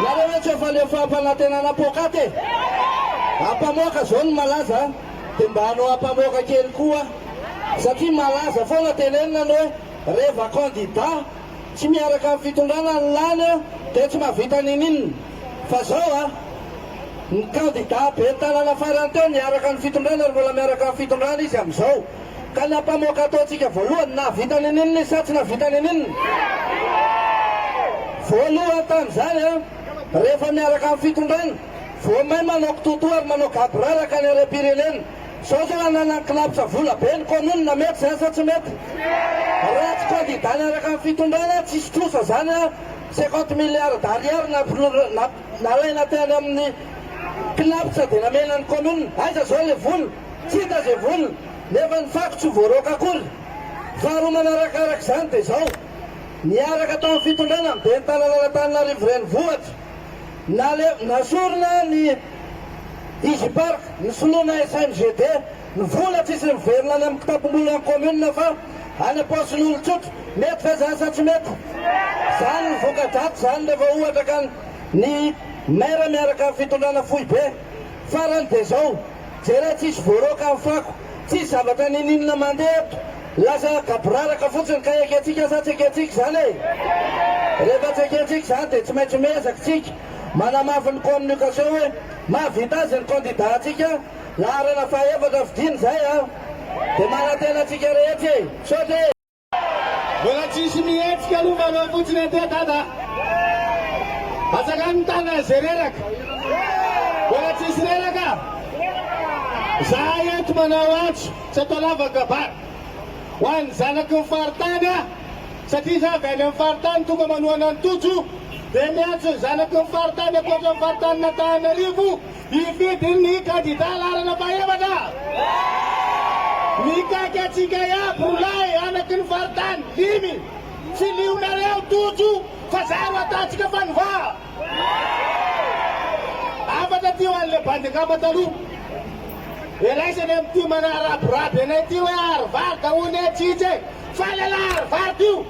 Nareo ve tsy efa leo fahampanantenana poak'aty e? Ampamoaka zao ny malaza a! De mba anao ampamoaka kely koa a! Satria malaza foana tenenina ny hoe reva candidat tsy miaraka amin'ny fitondrana ny lany a! De tsy mahavita ninininona! Fa zao a! Ny candidat ben'ny tanàna farany teo niaraka ny fitondrana ary mbola miaraka amin'ny fitondrana izy amin'izao! Ka ny ampamoaka ataontsika voalohany na vita any aninona izy sa tsy nahavita any aninona? Voalohany tamin'izany an, rehefa miaraka amin'ny fitondrana, vao may manao kitoatoa ary manao gaboraraka ny harem-pirenena. Izao izao ananany kilabotsa vola be ny kaominina, mety izany sa tsy mety? Raha tsy kandida niaraka amin'ny fitondrana, tsisy trosa izany an, cinquante milliards d'ariary nampiroa, Nalaina tany amin'ny Cnaps dia namela ny commune, aiza zao le vola? tsy hita ze vola, nefa ny fako tsy voaroaka akory. Faharoa manarakaraka izany dia zao, niaraka tao amin'ny fitondrana ny ben'ny tananan'Antananarivo renivohitra, nale, nasorina ny Digipark, ny soloana SMGD, Ny vola tsisy miverina any amin'ny kitapom-bolan'ny kaominina fa any am-paosin'olon-tsotra. Mety ve izany sa tsy mety? Izany ny voka-dratsy izany rehefa ohatra ka ny maire miaraka amin'ny fitondrana foibe. Farany dia izao, jereo tsisy voaroaka ny fako, tsisy zavatra n'inon'inona mandeha eto, lasa gaboraraka fotsiny ka ekentsika sa tsy ekentsika izany e? Rehefa tsy ekentsika izany dia tsy maintsy miezaka isika manamafy ny communication hoe mahavita azy ny candidat-ntsika. laharana fahaefatra vidiana izay a! Dia manantena antsika rehetra e! Misaotra e! Mbola tsisy mihetsika aloha mba aloha fotsiny aty dada a! Atsakany ny tanana izay reraka! Mbola tsisy reraka a! Izahay eto manao antso tsy atao lavan-kabary ho an'ny zanaky ny faritany a! Satria izaho avy any amin'ny faritany tonga manohana an'i Tojo dia miantso ny zanaky ny faritany ankoatra ny faritanin'Antananarivo Hifidy ny kandida laharana fahefatra. Mikaky antsika iaby roa lahy anaky ny faritany dimy. Tsy lionareo Tojo fa za ro ataontsika fanova. Hafatra ty ho an'le bandy angamba taloha. Iraisany amin'ity manaraboraby anay ty hoe Harvard hono e, tsitsy e. Fa lehilahy Harvard io.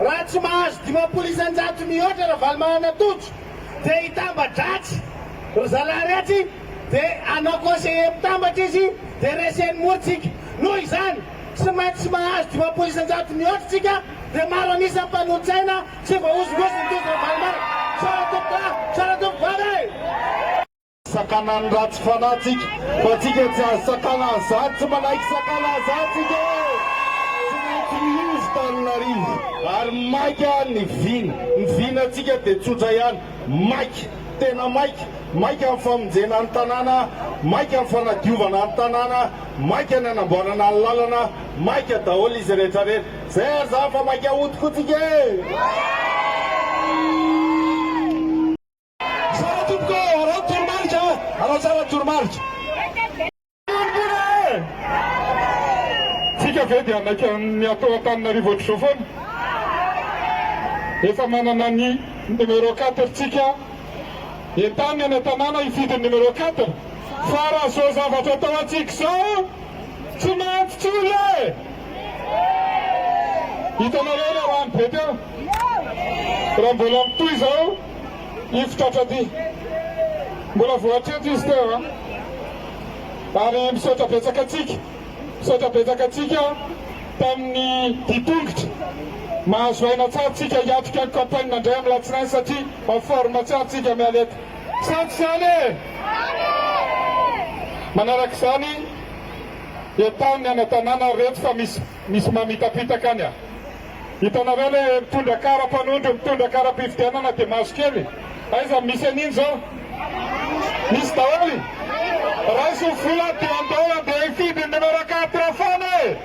Raha tsy mahazo dimampolo isan-jato mihoatra Ravalomanana Tojo dia hitamba-dratsy ry zalahy ratsy dia hanao conseiller mpitambatra izy dia reseny mora tsika. Noho izany tsy maintsy tsy mahazo dimampolo isan-jato mihoatra tsika dia maro an'isa ny mpanolo-tsaina tsy voahozongozon'i Tojo Ravalomanana. Misaotra tompokolahy, misaotra tompokovavy e! Sakana ny ratsy fanahy tsika fa tsika tsy azo sakana an'izany tsy manaiky sakana an'izany tsika e! Tsy mety miova Tananarivo ary maika ny vina, ny vina tsika dia tsotra ihany, maika, tena maika, maika ny famonjena ny tanàna, maika ny fanadiovana ny tanàna, maika ny anamboarana ny lalana, maika daholo izy rehetra rehetra, zay ary zany fa maika hody koa tsika e! Tsara tompoko ô! Araho ny toromarika a! Araho tsara ny toromarika! Fiangonana e! Tsika ve dia maika miatoa Antananarivo ohatr'izao foana? Efa manana ny numéro quatre tsika, entano eny an-tanàna hifidy ny numéro quatre fa raha izao zavatra atao antsika izao tsy mahantsy tsy olona e! Hitanareo ilay rano be teo? Raha mbola mitohy izao, hifotra hatraty. Mbola vao hatreto izy teo a. Ary misaotra betsaka antsika, misaotra betsaka antsika tamin'ny dia tongotra. Mahazo aina tsara tsika hiatrika ny campagne indray amin'ny latsinainy satria en forme tsara tsika miala eto. Sampy izany e! Manaraka izany, entaho ny ana-tanàna reto fa misy. Misy mamitapitaka any a! Hitanareo le mitondra kara mpanondro mitondra kara mpifidianana de maso kely aiza no misy an'iny zao? Misy daholo! Raiso ny vola de andao andeha hifidy ny numéro quatre foana e!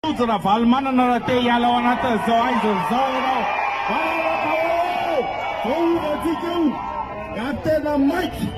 Tojo Ravalomanana raha te hiala ao anatin'izao aiza izao ianao. Valalaka oee! Zao io ratsika io! Raha tena maika!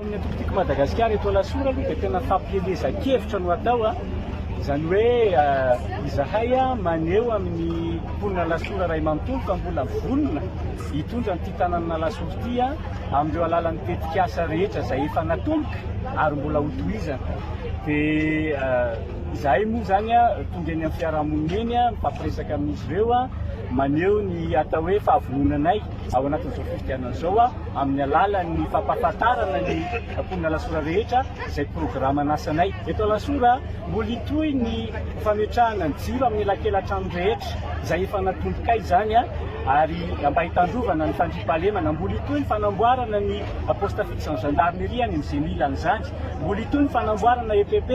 Ny eto Pitiky Madagasikara eto Alasora aloha dia tena fampielezan-kevitra no atao, izany hoe izahay maneho amin'ny mponina Alasora iray manontolo fa mbola vonona hitondra an'ity tananan'Alasora ity amin'ireo alalan'ny tetikasa rehetra izay efa natomboka ary mbola ho tohizana. Dia izahay moa izany tonga eny amin'ny fiarahamonina eny mifampiresaka amin'izy ireo maneho ny atao hoe fahavononanay. ao anatin'izao fifidianana izao amin'ny alalan'ny fampahafantarana ny mponina Alasora rehetra izay programan'asanay. Eto Alasora, mbola hitohy ny fametrahana ny jiro amin'ny elakelan-trano rehetra izay efa natontokay izany ary mba hitandrovana ny fandriampahalemana. Mbola hitohy ny fanamboarana ny poste fixe ny gendarmerie any amin'izay mila an'izany. Mbola hitohy ny fanamboarana EPP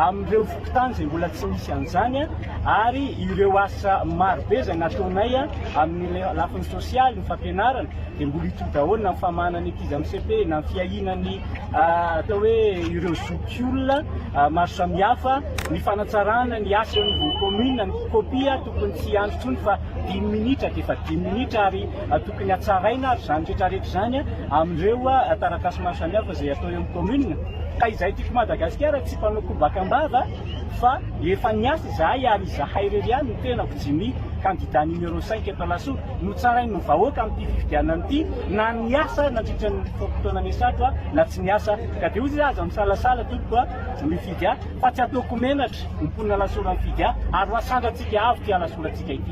amin'ireo fokontany izay mbola tsy misy an'izany. ary ireo asa maro be izay nataonay amin'ny lafiny sosialy, ny fampianarana dia mbola hitohy daholo na ny famahana ny ankizy amin'ny cepe na ny fiahiana ny atao hoe ireo zokiolona maro samihafa, ny fanatsarana ny asa eo anivon'ny commune, ny kopia tokony tsy hiandry intsony fa dimy minitra dia efa dimy minitra ary tokony hatsaraina ary izany rehetra rehetra izany amin'ireo taratasy maro samihafa izay atao eo amin'ny commune ka izay teto Madagasikara tsy mpanao kobaka am-bava. Fa efa niasa izahay ary izahay irery ihany ny tenako, Jimmy, kandida numéro cinq eto Alasora, notsarain'ny vahoaka amin'ity fifidianana ity na niasa nandritra ny fotoana niasako aho na tsy niasa. Ka dia hoy izy, Aza misalasala tompoko a! Mifidy ahy fa tsy ataoko menatra ny mponina Alasora mifidy ahy ary ho asandratsika avo ity Alasorantsika ity.